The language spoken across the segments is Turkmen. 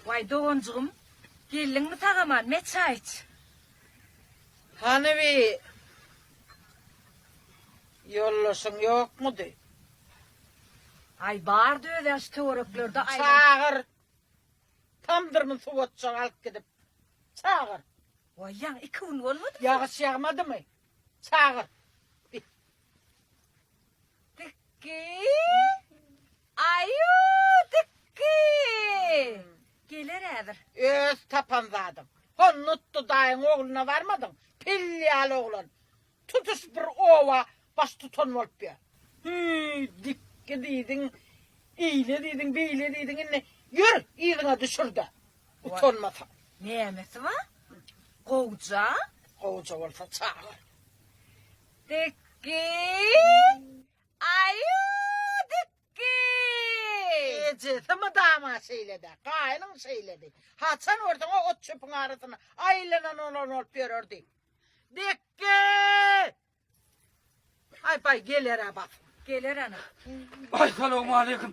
Waý doganjygym geldiňmi tagaman me çaý iç. Hany bi ýoldaşyň ýokmudy. Aý bardy özi aş töwereklerde aýlan. Çagyr. Tamdyrmy suw otjak alyp gidip. Çagyr. Waý ýaň iki gün bolmadymy? Ýagyş ýagmadymy? Çagyr. Dikki. Aýuw dikki geler häzir. Öz tapan zadyň. Hon nutdy daýyň ogluna barmadyň. Pil ýaly oglan. Tutuş bir oba baş tutan bolup ýör. Hüý dikki diýdiň eýle diýdiň beýle diýdiň indi ýör yzyňa düşürde utanmasaň. Nämesi bar? Gowja. Gowja bolsa çagyr. Dikki. Aýuu dikki. Ejesi mydama şeýlede, gaýynyň şeýledi. Haçan görseň o ot çöpüň arasyna aýlanan olan bolup ýörerdi. Dikki! Aý baý geler-ä bak. Geler ana. Aý salowmaleýkim.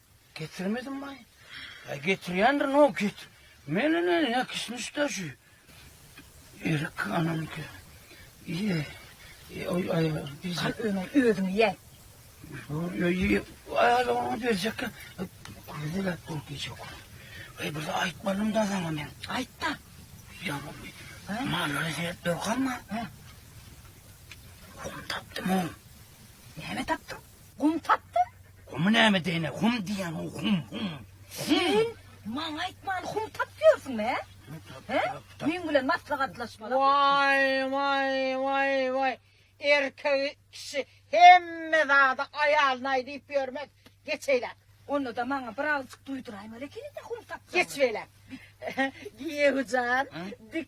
Getirmedimbaý? Ýa getirýändir, no get. Meni ne, ne kismiş daşy. Erik anamyky. Ýe. Ýe, oý, aý, biz. Al öňe, özüň ýe. Oý, oý, ýe. Aý, aý, oňa berjek. Köýde gäp bolup geçek. Aý, bir aýtmalym da saňa men. Aýt da. Ýa bu. Hä? Mallary seret, durkanma. Hä? Oňa tapdym oň. Näme tapdyň? Gum tapdy. Gumy näme deýne? Hum diýen o hum hum. Sen maňa aýtman hum tapyp ýörsüňmi? He? Meň bilen maslahatlaşma. Waý, waý, waý, waý. Erkek kişi hemme zady aýalyna aý diýip ýörmez. Geçeýle. Onda-da maňa bir agzyk duýduraýmaly ekeni-de hum tapsaň. Geçeýle. Giýewijan, dik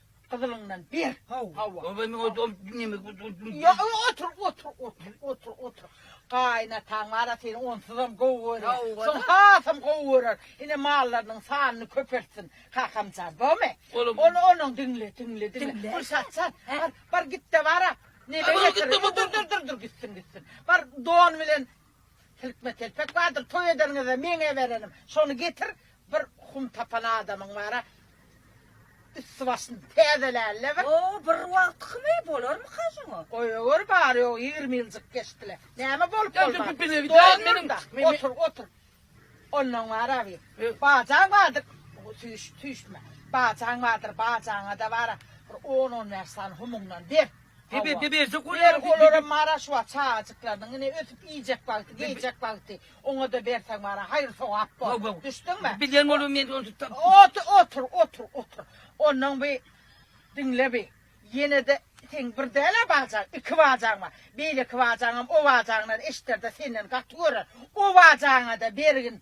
Gyzylyňdan ber. Hawa. Hawa. Oba men ot ot neme ot ot. Ýa otur otur otur otur otur. Gaýynataň bar-a seni onsuzam gowy görýär. Şol hasam gowy görer. Ine mallarynyň sanyny köpeltsin kakam jan. Bomy? Ol onuň diňle diňle diňle. Pul sat sat. Bar bar git-de bar-a. Neme getir. Dur dur dur dur gitsin gitsin. Bar don bilen Silkme telpek bardyr toý ederiňizde meňe berenim. Şony getir, bir hum tapan adamyň bara üsti-başyny täzelärle bir. O bir wagtkymy, bolarmyka şoňa? Goýaweri bary ýogy ýigrimi ýyljyk geçdile. Näme bolup bolmaz. Stol munda, otur, otur. Ondan bara bir, bajaň bardyr, süýşme. Bajaň bardyr, bajaňa-da bara bir on-on bäş sany humuňdan ber. Debe debesi guler guler. Olara maraş wa çagajyklarynyň ine ösüp iýjek wagty, geýjek wagty oňada berseň wara haýyr sogap bor. Düşdüňmi? Bilýän bolum men ony tutdum. Otur, otur, otur, otur. Ondan bi diňle bi. Ýenede seň bir däl-ä bajaň, iki bajaň bar. Beýleki bajaňam o bajaňdan eşider-de senden gaty görer. O bajaňada bergin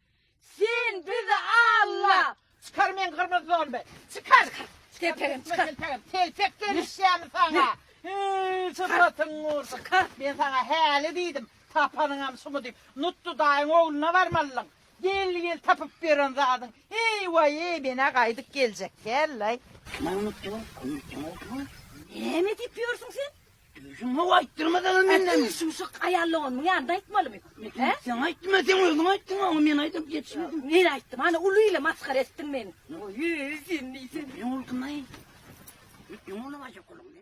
Sen bizi alla. Çykar men gyrmyz zombi. Çykar. Telpegim çykar. Telpegim. Telpek gelişýämi sana. Hee çypatyň ur. Çykar. Men sana häli diýdim. Tapanyňam şumy diýip. Nutdy daýyň ogluna barmalyň. Gel gel tapyp beren zadyň. Eý waý eý menä gaýdyp geljek. Gel laý. Näme diýip ýörsüň sen? Şuňa aýtdyrmasaňam menden. Aýt, şuşuk aýallygyň onuň ýanynda aýtmalymy? Hä? Sen aýtma, sen özüň aýtdyň, oňa men aýdyp geçmedim. Men aýtdym, ana uly ile masgara etdiň meni. Oý, sen diýseň. Ýuňulgyn aý. Ýuňulma şokoluňy.